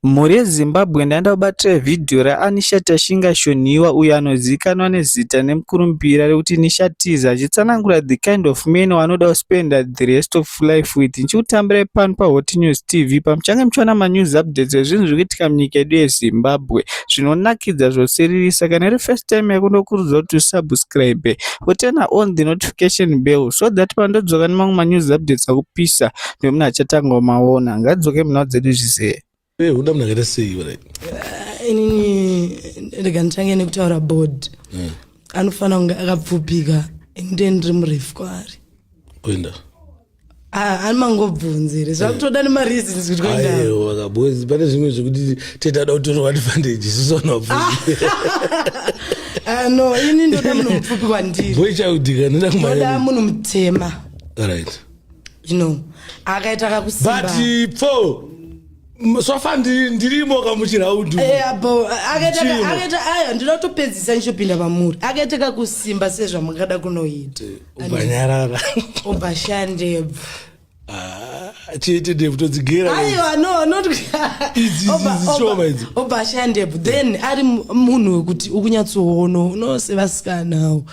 Mhuri yeZimbabwe ndaenda kubatira vhidhiyo raAnisha Tashinga Shonhiwa uyo anozivikanwa nezita nemukurumbira rekuti Nisha Tiza achitsanangura the kind of men waanoda kuspenda the rest of life with ndichikutambirai pano paHotNews TV pamuchange muchiwana manews updates ezvinhu zviri kuitika munyika yedu yeZimbabwe zvinonakidza zvosiririsa kana iri first time yako ndokurudzira kuti usubscribe woturna on the notification bell so that pandodzoka nemamwe manews updates akupisa Uyo munhu achatanga umaona. Ngadzoke munhu dzedu zvise. Hey, uda munhu akaita sei vare? Eh, inini rega nditange nekutaura board. Mm. Anofanira kunge akapfupika and then ndiri murefu kwaari. Kuenda. Ah, ani mangobvunzi here zvakutoda eh. nemareasons kuti kuendaaiwa bcause pane zvimwe zvekuti tetada kutorwa advantage isusu vanobvunzi ah, no ini ndoda munhu mupfupi kwandiri boy chaudika ndoda kumaoda munhu mutema right you know akaita kakusimba but for sofa ndirimo kamuchiraudu eh, akaita aya ndinotopedzisa ndichopinda pamuri akaita kakusimba sezvamungada kunoita eh, ubanyarara ubashandebva ah, chete devu todzigera aiwa no not idzishoma idzi obashandebvu then ari munhu wekuti ukunyatsoono unosevasikanawo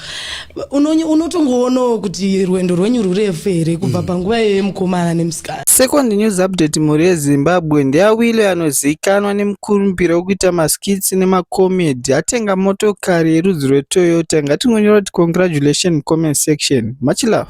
unotongoonawo kuti rwendo rwenyu rurefu here kubva mm. panguva iyoyo mukomana nemusikana second news update mhuri yezimbabwe ndeyawile anozivikanwa nemukurumbira wekuita maskits nemacomedy atenga motokari yerudzi rwetoyota ngatingonyora kuti congratulation comment section much love